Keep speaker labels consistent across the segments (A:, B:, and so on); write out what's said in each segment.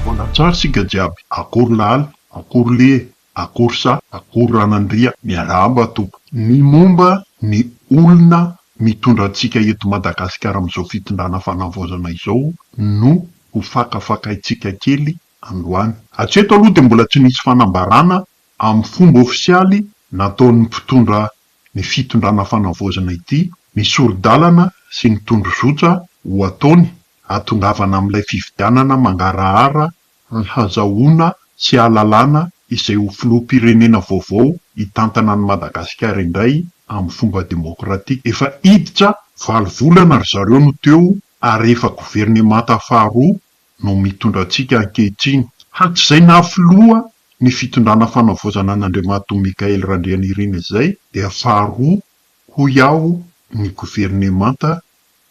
A: Manatsara isika jiaby, akory laala, akory lie, akory sa, akory ranandria, miarahaba tompoko. Ny momba ny olona mitondra antsika eto Madagasikara amin'izao fitondrana fanavaozana izao no ho fakafakaintsika kely androany. Hatreto aloha dia mbola tsy nisy fanambarana amin'ny fomba ofisialy nataon'ny mpitondra ny fitondrana fanavaozana ity, ny sori-dalana sy ny tondrozotra ho ataony hahatongavana amin'ilay fifidianana mangarahara hahazahoana sy hahalalana izay ho filoham-pirenena vaovao hitantana an'i Madagasikara indray amin'ny fomba demokratika. Efa hiditra valo volana ry zareo no teo ary efa governemanta faharoa no mitondra antsika ankehitriny. Hatrizay naha filoha ny fitondrana fanavaozana an'Andriamatoa Michaël Randrianirina izay dia faharoa hoy aho ny governemanta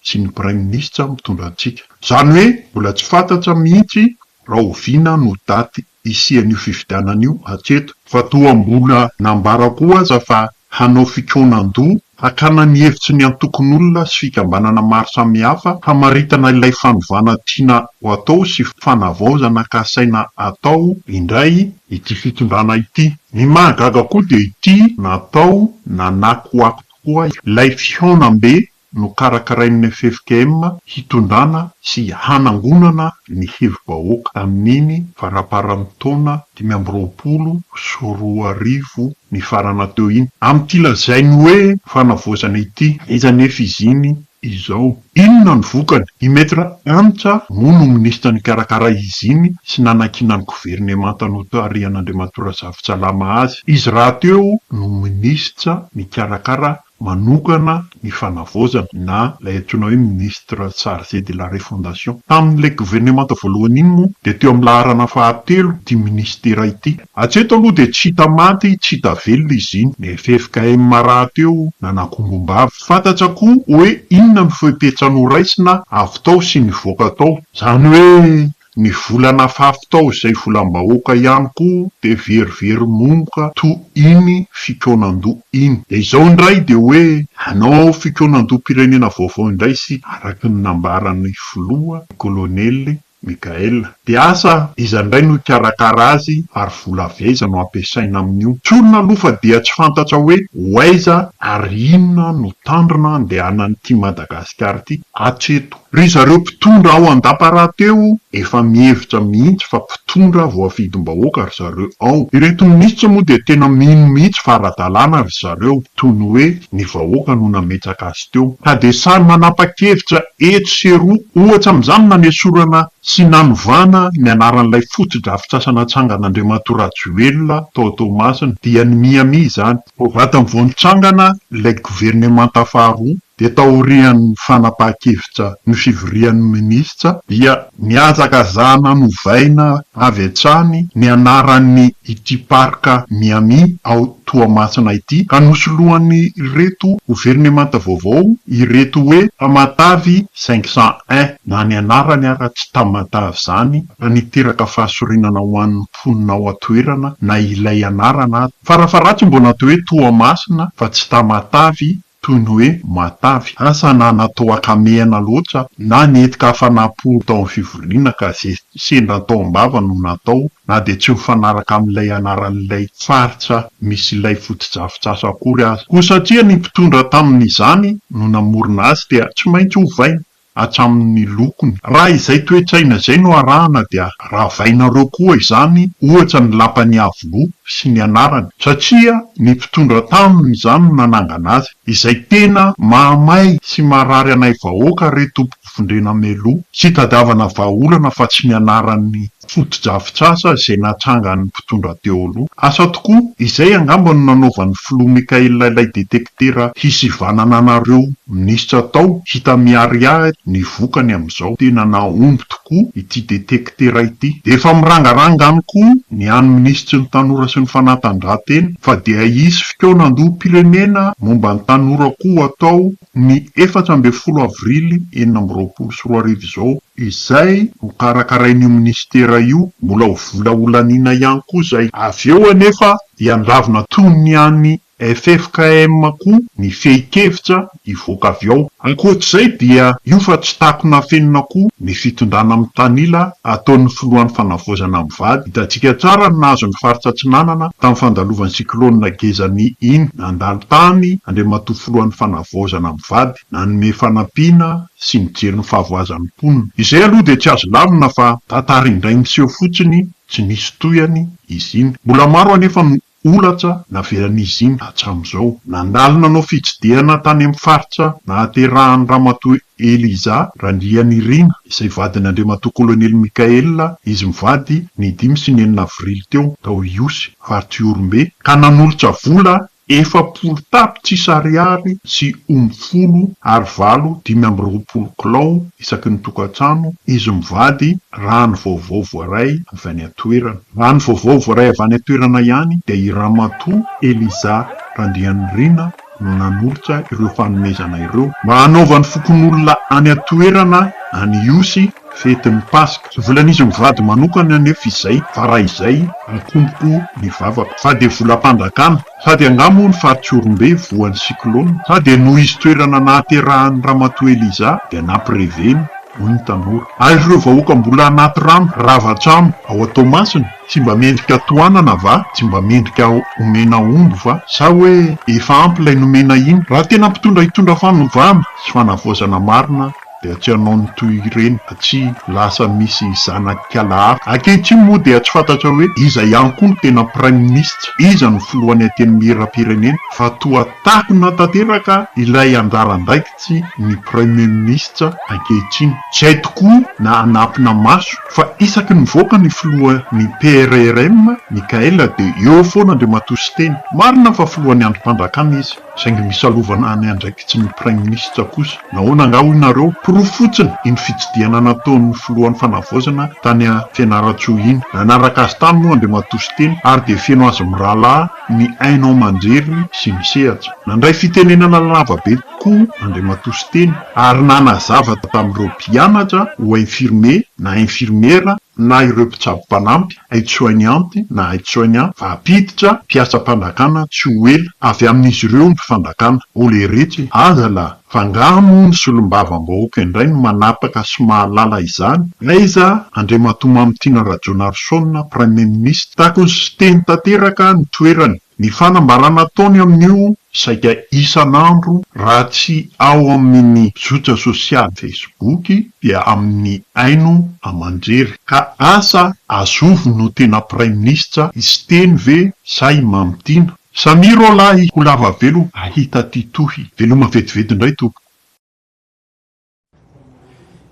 A: sy ny praiminisitra mitondra antsika. Izany hoe mbola tsy fantatra mihitsy rahoviana no daty hisian'io fifidianana io hatreto, fa toa mbola nambara koa aza fa hanao fikaonan-doha hakana ny hevitry ny antokon'olona sy fikambanana maro samihafa hamaritana ilay fanovana tiana ho atao sy fanavaozana kasaina atao indray ity fitondrana ity. Ny mahagaga koa dia ity natao nanakoako tokoa ilay fihaonambe Nokarakarain'ny ffkm hitondrana sy hanangonana ny hevi-bahoaka tamin'iny faraparan'ny taona dimy amby roapolo sy roa arivo nifarana teo iny, amin'ity lazainy hoe fanavaozana ity. Aiza anefa izy iny izao? Inona no vokany? I Maître Antsa moa no minisitra nikarakara izy iny sy nanakiana ny governemanta notarihan'Andriamatoa Razafintsalama azy. Izy rahateo no minisitra nikarakara manokana ny fanavaozana na ilay antsoina hoe Ministre charge de la refondation. Tamin'ilay governemanta voalohany iny moa dia teo amin'ny laharana fahatelo ity Ministera ity. Hatreto aloha dia tsy hita maty tsy hita velona izy iny. Ny ffkm rahateo nanakombom-bava. Fantatra koa hoe inona ny fepetra noraisina avy tao sy nivoaka tao. Izany hoe Ny vola nafafy tao izay volam-bahoaka ihany koa dia very very momoka toa iny fikaonan-doha iny. Dia izao indray dia hoe hanao fikaonan-doham-pirenena vaovao indray isika araka ny nambaran'ny filoha, ny kolonely Mickaël. Dia asa iza indray no hikarakara azy ary vola avy aiza no hampiasaina amin'io? Tsorina aloha fa dia tsy fantatra hoe ho aiza ary inona no tanjona andehanan'ity Madagasikara ity. hatreto. Ry zareo mpitondra ao Andapa rahateo efa mihevitra mihitsy fa mpitondra voafidim-bahoaka ry zareo ao. Ireto minisitra moa dia tena mino mihitsy fa ara-dalàna ry zareo toy ny hoe ny vahoaka no nametraka azy teo. Ka dia samy manapa-kevitra etsy sy eroa. Ohatra amin'izany ny nanesorana sy nanovana ny anaran'ilay fotodrafitrasa natsangan'Andriamatoa Rajoelina tao Toamasina. Dia ny miha miha izany. Vao vatany vao nitsangana ilay governemanta faharoa dia taorian'ny fanapahan-kevitra ny fivorian'ny minisitra dia nihazakazahana novaina avy hatrany ny anaran'ity Parc Miami ao Toamasina ity ka nosoloan'ireto governemanta vaovao ireto hoe Tamatave cinq cent un na ny anarany ara tsy Tamatave izany ka niteraka fahasorenana ho an'ny mponina ao an-toerana na ilay anarana aza fara-faharatsy mbola atao hoe Toamasina fa tsy Tamatave toy ny hoe matavy, asa na natao hakamehana loatra, na nety-ka afa-namporo tao amin'ny fivoriana ka izay sendra tao am-bava no natao, na dia tsy mifanaraka amin'ilay anaran'ilay faritra misy ilay fotodrafitrasa akory aza. Koa satria ny mpitondra tamin'izany no namorona azy dia tsy maintsy ovaina. hatramin'ny lokony. Raha izay toe-tsaina izay no arahana dia ravainareo koa izany ohatra ny lapan'i Iavoloha sy ny anarany satria ny mpitondra taminy izany no nanangana azy. Izay tena mahamay sy marary anay vahoaka re tompoko vondrena mialoha tsy hitadiavana vahaolana fa tsy ny anaran'ny fotodrafitrasa izay natrangan'ny mpitondra teo aloha. Asa tokoa! Izay angamba no nanaovan'ny filoha Mickaël ilay detektera hisivanana anareo minisitra tao, hita miharihary ny vokany amin'izao. Tena nahomby tokoa ity detektera ity. Efa mirangaranga any koa ny an'ny minisitry ny tanora sy ny fanatanjahantena fa dia hisy fikaonan-doham-pirenena momba ny tanora koa atao Ny efatra ambin'ny folo avrily enina amby roapolo sy roa arivo izao, izay nokarakarain'io minisitera io, mbola ho vola holaniana ihany koa izay. Avy eo anefa dia niravona toy ny an'ny ffkm koa ny fehin-kevitra hivoaka avy ao. Ankoatr'izay dia io fa tsy takona afenina koa ny fitondrana mitanila ataon'ny filohan'ny Fanavaozana mivady. Hitantsika tsara ny nahazo ny faritra Atsinanana tamin'ny fandalovan'ny cyclone Gezani iny. Nandalo tany Andriamatoa Filohan'ny Fanavaozana mivady nanome fanampiana sy nijery ny fahavoazan'ny mponina. Izay aloha dia tsy azo lavina fa tantara indray niseho fotsiny tsy nisy tohiny izy iny. Mbola maro anefa no holatra navelan'izy iny hatramin'izao. Nandalo nanao fitsidihana tany amin'ny faritra nahaterahan'i Ramatoa Eliza Randrianirina, izay vadin' Andriamatoa Kolonely Mickaël, izy mivady, ny dimy sy ny enina avrily teo, tao Ihosy, faritra Ihorombe, ka nanolotra vola efapolo tapitrisa ariary sy omby folo ary valo dimy amby roapolo kilao isaky ny tokantrano, izy mivady, raha ny vaovao voaray avy any an-toerana. Raha ny vaovao voaray avy any an-toerana ihany dia i Ramatoa Eliza Randrianirina, no nanolotra ireo fanomezana ireo mba hanaovan'ny fokonolona any an-toerana any Ihosy fety ny Paska. Tsy volan'izy mivady manokana anefa izay fa raha izay akomboko ny vavako fa dia volam-panjakana sa dia angaha moa ny Faritsiorombe voan'ny cyclone sa dia noho izy toerana nahaterahan'ny Ramatoa Eliza dia nampireveny, hoy ny tanora. Ary ireo vahoaka mbola anaty rano rava trano ao Toamasina? Tsy mba mendrika tohanana va? Tsy mba mendrika omena omby va? Sa hoe efa ampy ilay nomena iny? Raha tena mpitondra hitondra fanovana sy fanavaozana marina dia tsy hanao ny toy ireny fa tsy lasa misy zanak'ala hafa. Ankehitriny moa dia tsy fantatra hoe iza ihany koa no tena praiminisitra, iza no filohan'ny antenimierampirenena fa toa takona tanteraka ilay anjaran-daika. tsy ny praiminisitra ankehitriny. Tsy hay tokoa na anampina maso fa isaky nivoaka ny filoha ny PRRM, Michael dia eo foana Andriamatoa Siteny. Marina fa filohan'ny andrim-pandrakana izy saingy misalovana ny andraikitry ny praiminisitra kosa. Nahoana angaha hoy nareo? Porofo fotsiny iny fitsidihana nataon'ny filohan'ny fanavaozana tany Fianarantsoa iny. Nanaraka azy tany moa Andriamatoa Siteny ary dia feno azy mirahalahy ny haino aman-jery sy ny sehatra. Nandray fitenenana lava be tokoa Andriamatoa Siteny ary nanazava tamin'ireo mpianatra ho infirmier na infirmiera na ireo mpitsabo mpanampy, aide-soignante na aide-soignant, vahampiditra, mpiasa-panjakana tsy ho ela, avy amin'izy ireo ny fanjakana. Olé retsy e! Aza lah! Fa angaha moa ny solombavambahoaka indray no manapaka sy mahalala izany? Aiza Andriamatoa Mamitiana Rajaonarison, Praimiministra? Tokony sy Siteny tanteraka ny toerany. Ny fanambarana ataony amin'io saika isan'andro raha tsy ao amin'ny zotra sosialy Facebook dia amin'ny haino aman-jery. Ka asa azovy no tena Praiminisitra, i Siteny ve sa i Mamitiana? Samia rô lahy ho lava velo ahita ty tohy. Veloma vetivety indray tompoko.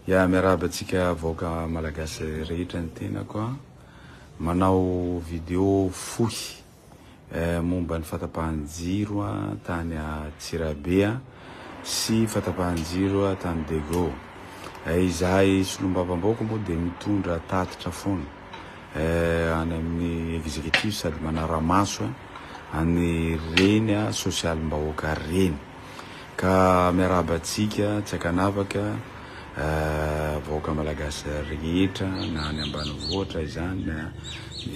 B: Ya miarahaba antsika vahoaka malagasy rehetra ny tenako a! Manao video fohy momba ny fatapahan-jiro tany Antsirabe a! sy fatapahan-jiro tany Dego. Izahay solombavambahoaka moa dia mitondra tatitra foana. eh, any amin'ny executif sady manara-maso eh, any reny ah, sosialim-bahoaka reny. Ka miarahaba antsika tsy ankanavaka eh, vahoaka malagasy rehetra na any ambanivohitra izany na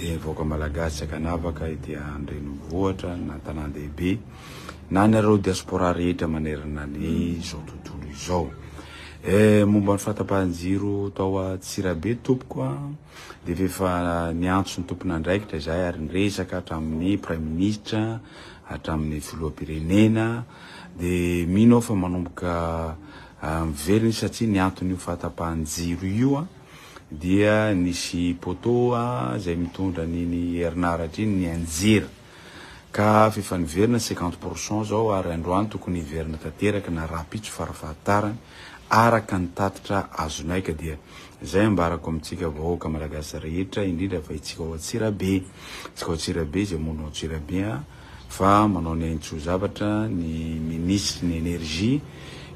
B: eh, vahoaka malagasy tsy ankanavaka ety an-drenivohitra na tanàn-dehibe na anareo diaspora rehetra manerana ny izao tontolo izao. Eh momba ny fahatapahan-jiro tao Antsirabe tompoko a, dia efa efa niantso ny tompon'andraikitra izahay ary niresaka hatramin'ny Praiminisitra, hatramin'ny Filoham-pirenena, dia mino aho fa manomboka miverina izy satria ny anton'io fahatapahan-jiro io a, dia nisy poteau a izay mitondra an'iny herinaratra iny nianjera. Ka hafa efa niverina cinquante pour cent zao ary androany tokony hiverina tanteraka na rahampitso fara fahatarany araka ny tatitra azonay ka dia zay ambarako amintsika vahoaka malagasy rehetra indrindra fa itsika ao Antsirabe itsika ao Antsirabe zay monina ao Antsirabe a fa manao ny aintsoa zavatra ny ministry ny energie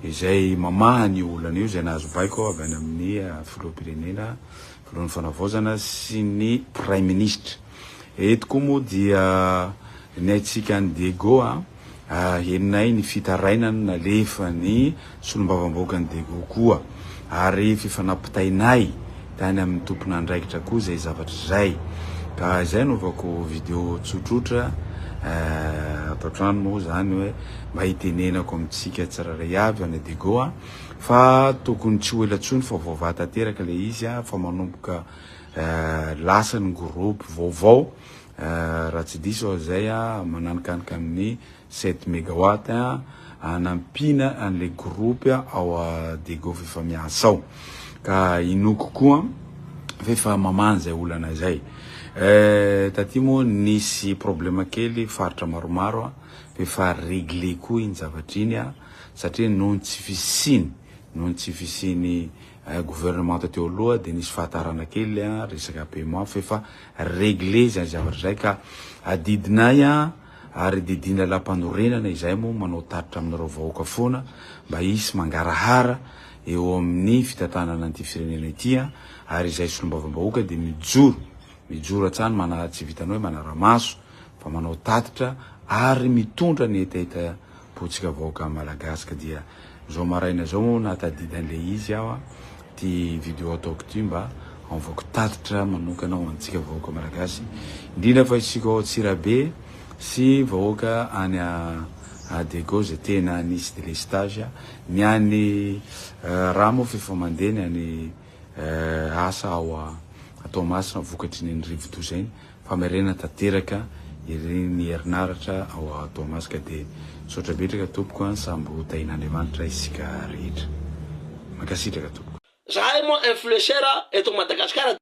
B: izay mamaha an'io olana io zay nahazo baiko avy any amin'ny filoham-pirenena Biraon'ny Fanavaozana sy ny Praiminisitra. Eto koa moa dia ny haintsika an'i Diego a! Henonay ny fitarainana nalefan'ny Solombavambahoakan'i Diego koa ary fifanampitainay tany amin'ny tompon'andraikitra koa izay zavatra izay. Ka izay anaovako video tsotsotra ato an-trano moa izany hoe mba hitenenako amintsika tsirairay avy, any Diego a! fa tokony tsy ho ela tsony fa vaovà tanteraka ilay izy a, fa manomboka lasa ny groupe vaovao raha tsy diso aho izay a, mananikanika amin'ny sept megawatt a, hanampiana an'ilay groupe ao Degoff efa miasa ao, ka inoako koa fa efa mamaha an'izay olana izay. Taty moa nisy problème kely faritra maromaro a, fa efa réglé koa iny zavatra iny a, satria noho ny tsy fisiany noho ny tsy fisiany gouvernemanta teo aloha dia nisy fahatarana kely resaka paiement f'efa regle izay zavatra izay ka adidinay ary didin'ny lalampanorenana izay moa manao tatitra aminareo vahoaka foana mba hisy mangarahara eo amin'ny fitantanana an'ity firenena ity ary izay solombavambahoaka dia mijoro mijoro hatsany manaha tsy vitanao hoe manara-maso fa manao tatitra ary mitondra ny hetahetam botsika vahoaka malagasy ka dia zao maraina zao moa nahatadidy anle izy aho a ty video ataoko ty mba hanovako tatitra manokana ho antsika vahoaka malagasy indrindra fa isika ao Antsirabe sy vahoaka any a Adego zay tena nisy delestage ny any eh, raha moa f'efa mandeha ny any asa ao Toamasina vokatry iny rivodoza iny, famerenana tanteraka ery ny herinaratra ao Toamasika de misaotra betraka tompoko an samby ho tahin'Andriamanitra isika rehetra. Mankasitraka tompoko. Zahay moa
C: influenceur eto Madagascar de.